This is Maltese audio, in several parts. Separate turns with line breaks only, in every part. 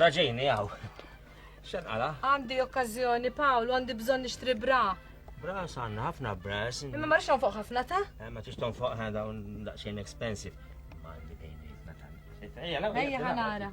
Raġejni għaw. Xan għala? Għandi okkazjoni,
Paolo, għandi bżon nixtri bra. Bra, sanna
ħafna bra. Imma marx fuq ħafna
ta? Eh, ma tix fuq ħana
dawn daqxien expensive. Ma għandi bejni, ma tan. Ejja, ħanara.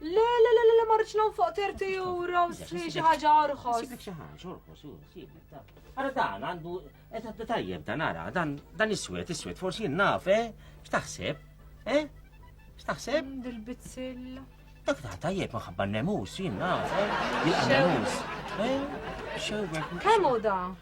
Le, le, le, le,
marriċ non fuq 30 euro, sli xi ħaġa orħos. Sibek xi ħaġa orħos,
sibek ta. Ara dan għandu, qed eh, tajjeb dan ara, dan dan iswed, iswed, forsi naf, eh? X'taħseb? Eh? X'taħseb? Mm, Dil-bizzilla.
Dak ta'
tajjeb maħabba n-nemus, jien naf, eh? Jilqa' nemus. Eh? Xewwek. Kemm hu da?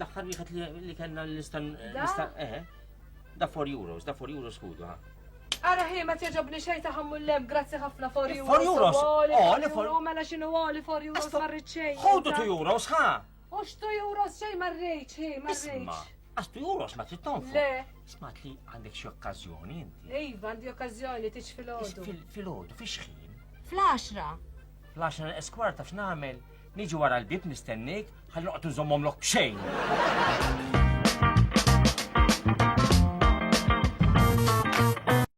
Daħħar wieħed li kellna l-istan. Eh, da 4 euros, da 4 euros kudu, ha. Ara ħi
ma tjaġobni xej ta' ħammu l-lem, grazzi ħafna for euros. For euros? Oli
for euros, mela
xinu oli for euros marriċ xej. Ħodu 2 euros, ha?
U xtu euros
xej marriċ, hi, marriċ. Għax tu
juros ma trid tonfu. Le. Smat li
għandek
xi okkażjoni inti. Iva, għandi okkażjoni
tiġ fil-ħodu. Fil-ħodu, fix-ħin. Fl-10. Fl-10
eskwarta x'nagħmel? Niġi wara l-bib nistennik, ħalli noqgħod nżommhom lok b'xejn.